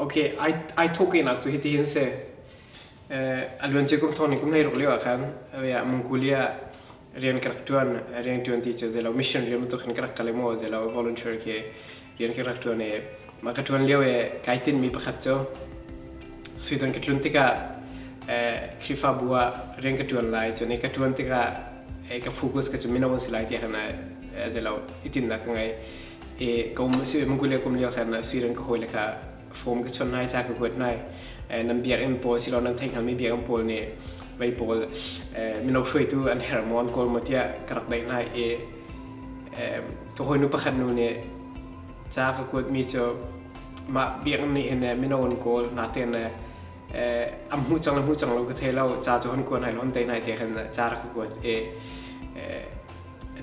Okay, ai ai thok nak chu hiti hin se. Eh aluan chu kum thon kum nei ruk leo khan ya mungkulia rian karak tuan rian tuan ti chu zelo mission rian tu khan karak kalemo zelo volunteer ke rian ka rak ṭuan i mah ka ṭuan lio i kai tinhmi pakhat cu suidon ka tlun tikah Khrihfabu ah rian ka ṭuan lai cun i ka ṭuan tikah ka focus ka cu mino an si lai ti khan a ti lo i tinhnak ka ngei i ka um mangule kum lio khan suidon ka hawile kha fom ka chon lai ca ka huat lai eh, nan biakinn pawl si lo nan theihngalmi biakinn pawl nih mei pawl eh, mino hruaitu an her maw an kawl maw tiah ka rak daih hna i ka hawinu pakhat nu nih ca ka kuatmi cu mah biakinn nih hin mino an kawl na ten am hmu cang le hmu cang lo ka thei lo ca cu hon kuan hai lo hon dei nai te khan ca rak ka kuat i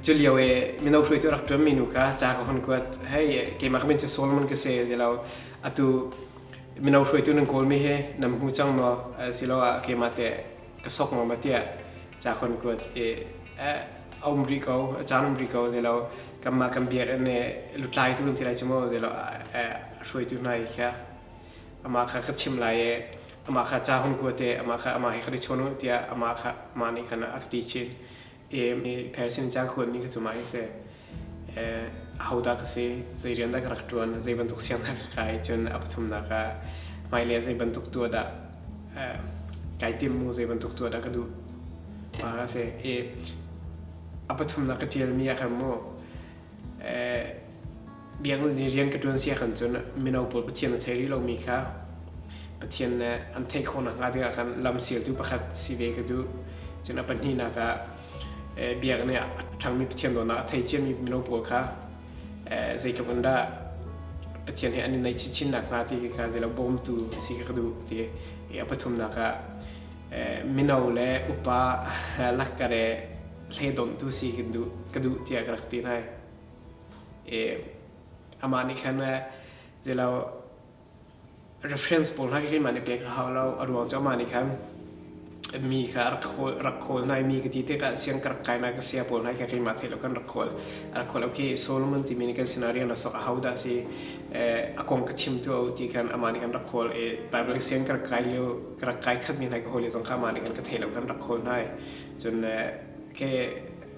Culio i mino hruaitu rak ṭuanmi nu kha ca ka hun kuat. Hei keimah ka min cu Saul mun ka si ti lo. Atu mino hruaitu nan kawlmi hi nan hmu cang maw asiloah keimah teh ka sok maw ma tiah ca ka hun kuat i a um rih ko, a caan um rih ko ti lo. Kanmah kan biakinn i lutlaitu nan ti lai cu maw ti lo a hruaitu hna hi kha amah kha ka chimh lai i amah kha ca hun kuat i amah kha amah he kan i chawn u tiah amah kha amah nih khan a ka ti chin. Persian ca khuanmi ka cumai si. Ahodah ka si, zei rian dah ka rak ṭuan, zei bantuk sianginn ka kai, cun a pathumnak ah hmailei ah zei bantuk tuah dah kai timmu, zei bantuk tuah dah ka duh. Mahka si. A pathumnak ka ṭialmi a kan maw. biaknak nih rian ka ṭuan si ahkhan cun mino pawl Pathian a thei rih lomi kha Pathian nih an theih khawh nakhnga dingah khan lam sialtu pakhat si ve ka duh. Cun a pahnihnak ah biaknak nih a ṭhangmi Pathian dawtnak a thei ciami mino pawl kha zeitluk in dah Pathian he an i naih chinchin nakhnga ti kha zeilo bawmtu a si ka duh ti i a pathumnak ah mino le upa lakkar he hle dawmtu si ka duh tiah ka rak ti hna. Amah nih khan le zei lo reference pawl hna khi keimah nih pek a hau lo. A ruang cu amah nih khan mi kha a rak khawl rak khawl hna i mi ka ti tikah siang ka rak kainak ka saya pawl hna hi kha keimah theih lo khan rak khawl a rak khawl lo khi Solomon timi nih kan scenario na sok a hodah a si a kong ka chim tu a uh ti khan amah nih khan rak khawl i Baibal siang ka rak kai lio ka rak kai khatmi hna hi ka hawile zong kha amah nih khan ka theih lo khan rak khawl hna i cun khei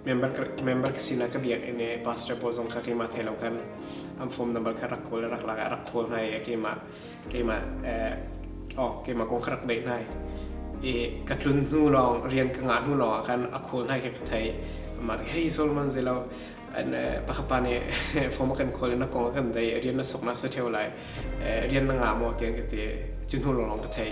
member ka sinak ka biakinn i pastor pawl zong kha keimah thei lo kan an form number kha rak kawl rak lak ah rak kawl hna i keimah keimah oh keimah kong ka rak daih hna i ka tlun hnu lawng rian ka ngah hnu lawng ah khan a kawl hna i ka thei amah nih hei Solomon zelo an pakapa nih form a kan kawl i na kong a kan daih rian na soknak sa theo lai rian na ngah maw tian ka ti cu hnu lawng ka thei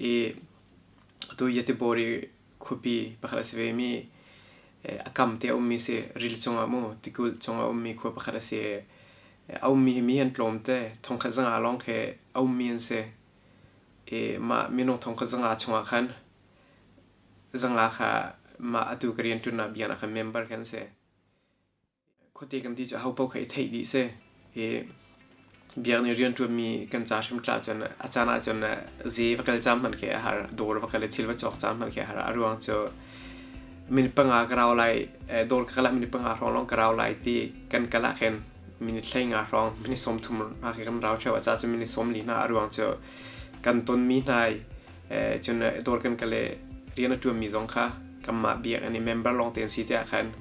i atu Yatibori khuapi pakhat a si ve mi a kam te a ummi si ril cungah mu tikulh cungah ummi khua pakhat a si a ummi hi mi an tlawm te thongkhat zanga lawng khi a ummi an si i mah minung thongkhat zanga chungah khan zanga kha mah atu ka rianṭuannak biaknak kha member kan si Khuate kan ti cu ho paoh kha i theih dih si. Hi biak nih rian ṭuanmi kan ca hrim tla cun a caan ah cun ze va kal ca hmanh khi a har, dawr va kal i thil va cawk ca hmanh khi a har. A ruang cu minute panga ka rau lai, dawr ka kal ah minute panga hrawng lawng ka rau lai ti kan kal ah khin minute hlei nga hrawng minute sawm thum hna khi kan rau ṭheo. A ca cu minute sawm li hna. A ruang cu kan tonmi hna i cun dawr kan kale rian a ṭuanmi zong kha kanmah biak an i member lawng te an si tiah khan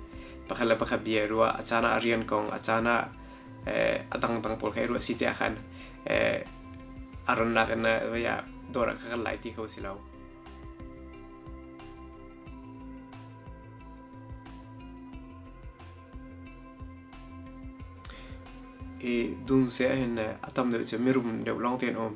pakhat le pakhat bia ruah a caan ah a rian kong a caan ah a dangdang pawl kha i ruah si tiah khan a rannak in vaya dawr ah ka kal lai ti kho si lo i dun se hin a tam deuh cu mirum deuh long ten um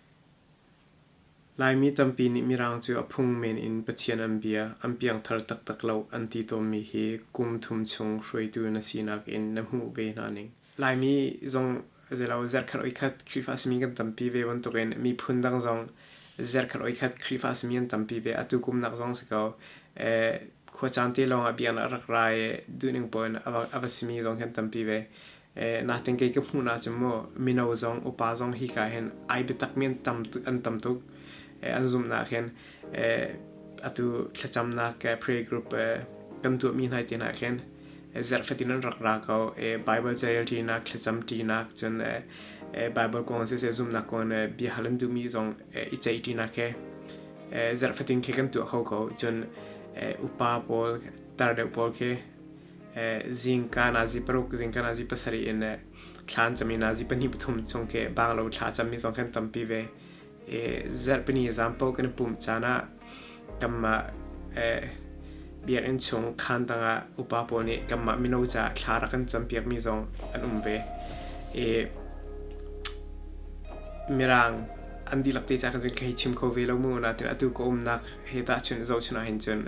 Laimi tampi nih Mirang cu a phung men in Pathian an bia an piangthar taktak lo an ti tawnmi hi kum thum chung hruaitu na sinak in na hmuh ve hna ning. Laimi zong zelo zarhkhat oikhat Khrihfa simi kan tampi ve bantukin miphun dang zong zarhkhat oikhat Khrihfa simi an tampi ve. Atu kum nak zong si ko khua caan te lawngah biaknak a rak ra i duhning poin a va simi zong hi an tampi ve. Eh, nating ke ka hmuh na cu mu mino zong upa zong hi ka hin ai bitak men tam an tam tuk eh, an zum na khin eh, atu thlacam na ke prayer group eh, kan tu mi nai ti na khin eh, zerf fatin an rak ra ko eh, bible jail ti na thlacam ti na chun eh, eh, bible kong se se zum na kon eh, bia halan tu mi zong eh, i chai ti na ke eh, zerf fatin ke kan tu kho ko chun eh, upa paul tar de paul ke zingka na zi paruk zingka na zi pasarih in le thlan cami na zi pahnih pathum chung khi banglo thla cammi zong kan tampi ve zarhpini example kan i pum caan ah kanmah biakinn chung khaan tangah upa pawl nih kanmah mino caah thla rak kan campiakmi zong an um ve i mirang an dihlak te ca kan cun kei chim kho ve lo mu na tin atu ka umnak he ta chun zohchun ah hin cun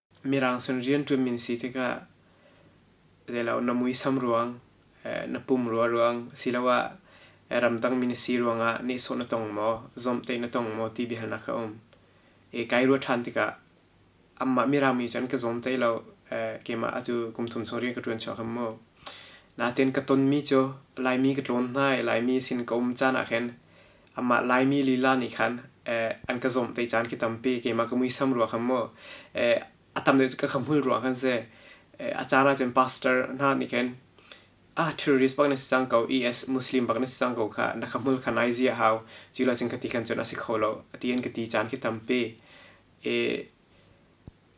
Mirang sin rianṭuan min si tikah zei lo na muisam ruang, na pumrua ruang asiloah ramdang mi na si ruangah nehsawh na tong maw, zawmhtaih na tong maw ti biahalnak a um. I kai ruah ṭhan tikah amah mirang mi cun ka zawmtaih lo, keimah atu kum thum chung rian ka ṭuan chuak ham mu. Natein ka tonmi cu Laimi ka tlawn hna i Laimi sin ka um caan ahkhin Amah Laimi lila nih khan an ka zawmh te caan khi tampi keimah ka muisam ruah khan maw a tam deuh ka khamhul ruah khan si a caan ahcun pastor hna nih khan ah terrorist bak na si cang ko IS Muslim bak na si cang ko kha na khamhul kha nai ziah hau cu la cun ka ti khan cun a si kho lo a ti an ka ti caan khi tampi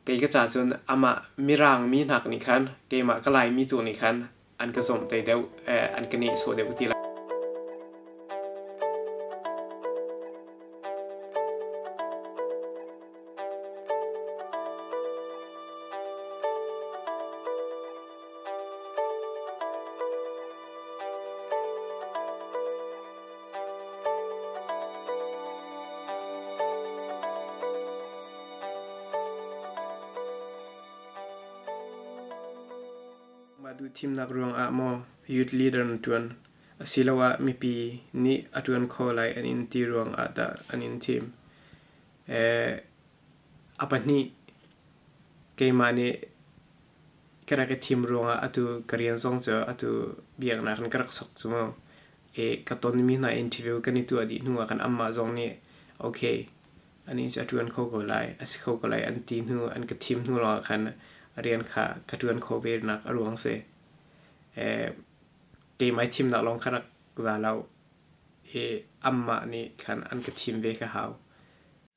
Kei ka ca cun amah mirang mi hnak nih khan keimah ka Laimi tu nih khan an ka zumh te deuh, eh, an ka nehsawh deuh ti lai. thimnak ruangah maw youth leader na ṭuan asiloah mipi nih a ṭuan kho lai an in ti ruangah dah an in thim? A pahnih keimah nih ka rak i thim ruangah atu ka rian zong cu atu biaknak in ka rak sok cu. I ka tonmi hna interview kan i tuah dih hnuah kan amah zong nih okay a nih cu a ṭuan kho ko lai, a si kho ko lai an ti hnu an ka thim hnu lawngah khan a rian kha ka ṭuan kho ve nak a ruang si. keimah i thimnak lawng ka rak za lo i amah nih khan an ka thim ve ka hau.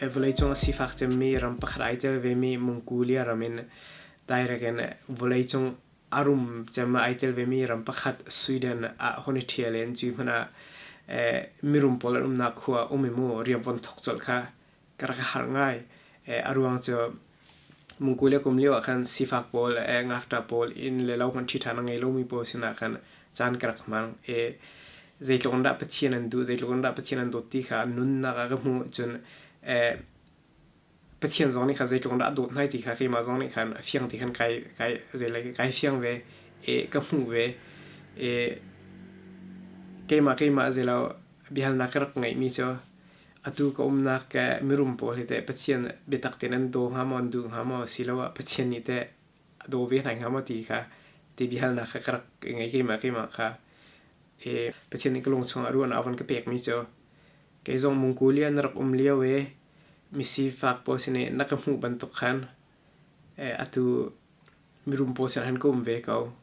vawleicung a sifak cemmi ram pakhat ai tel vemi Mongolia ram in direct in vawleicung a rum cem ai tel vemi ram pakhat Sweden ah hon i ṭhial in cui hmanh ah eh, mirum pawl an umnak khua um i mu riamvon thok colh kha ka rak har ngai. Eh, a ruang cu Mungku le kum lio ah khan sifak pawl le ngakṭa pawl inn le lo hmanh ṭhiṭhan a ngei lomi pawl sinah khan caan ka rak hmang i zeitluk in dah Pathian an duh zeitluk in dah Pathian an dawt ti kha nunnak ah ka hmuh cun Pathian zong nih khan zeitluk in dah a dawt hna ti kha keimah zong nih khan a fiang ti khan kai kai zeilai kai fiang ve i ka hmuh ve i keimah keimah zeilo biahalnak ka rak ngeihmi cu Atu ka umnak ke mirum pawl hi teh Pathian biatak tein an daw hnga maw, an du hnga maw asiloah Pathian nih teh a daw ve hna hnga maw ti kha ti biahalnak kha ka rak i ngei keimah keimah kha. I Pathian nih ka lung chungah ruahnak a von ka pekmi cu kei zong mungku lian na rak um lio i misifak pawl sin i na ka hmuh bantuk khan eh, atu mirum pawl sin khan ka um ve ko.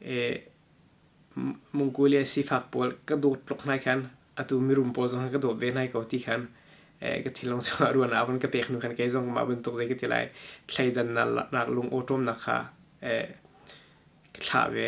I mungku le sifak pawl ka dawt tluk hna khan atu mirum pawl zong ka dawt ve nai ko ti khan ka thilong chungah ruahnak hun ka pek nu khan kei zong mah bantuk zei ka ti lai thleidan nak lung awṭawm nak kha ka thlah ve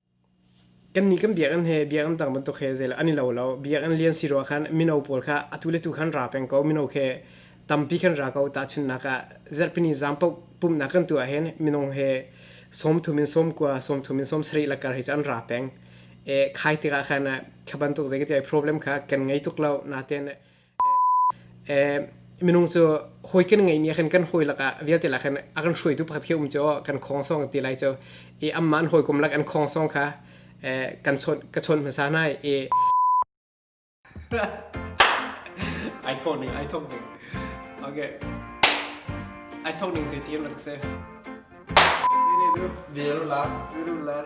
Kannih kan biakinn hi biakinn tam bantuk hi zeilah an i lo lo. Biakinn lian si ruah khan mino pawl kha atu le tu khan ra peng ko. Mino khi tampi kan ra ko. Tahchunhnak ah zarhpini zan paoh pumhnak kan tuah ahhin minung hi sawmthum in sawmkua, sawmthum in sawmsarih lakar hi cu an ra peng. I khai tikah khan kha bantuk zeicatiah problem kha kan ngei tuk lo. Natein minung cu hawi kan ngeimi ah khan kan hawi lakah vialte lah khan a kan hruaitu pakhat khi um cu kan khongsong ti lai cu i amman hawikom lak an khongsong kha kan chawn ka chawn hmasa hna i ai thawh ning ai thawk ning okay ai thawk ning zei tiam rak se birular birular